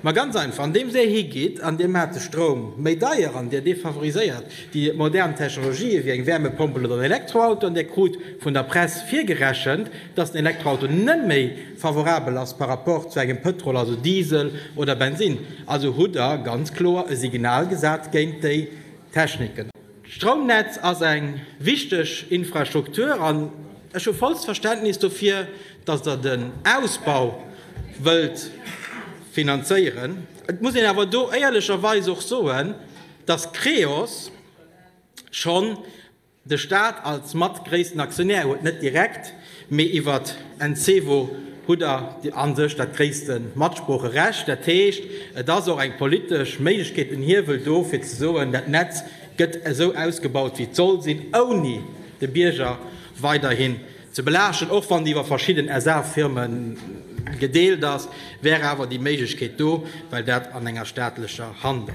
Ma ganz einfach, andeems Dir higeet an Dir maacht de Stroum méi deier an Dir defavoriséiert déi modern Technologië wéi eng Wärmepompel oder en Elektroauto, an Dir krut vun der Press virgerechent, dass den Elektroauto net méi favorabel ass par rapport zu engem Pëtrol, also Diesel oder Bensinn, also hutt Der ganz kloer e Signal gesat géint déi Techniken. D'Stroumnetz ass eng wichteg Infrastruktur an ech hu vollt Verständnis dofir, datt Der den Ausbau wëllt finanzéieren. Et muss een awer do éierlecherweis och soen, datt Creos schonn de Stat als mattgréissten Aktionär huet, net direkt, Mee iwwert Encevo hutt der a sech dat gréisste Matsproocherecht. Dat heescht, et ass och eng politesch Méiglechkeet, en Hiewel do, fir ze soen, dat Netz gëtt esou ausgebaut, wéi et soll sinn, ouni de Bierger weiderhin ze belaaschten. Och wann déi iwwer verschidden SA-Firme gedeelt ass, wär awer déi Méiglechkeet do, well dat an enger staatlecher Hand ass.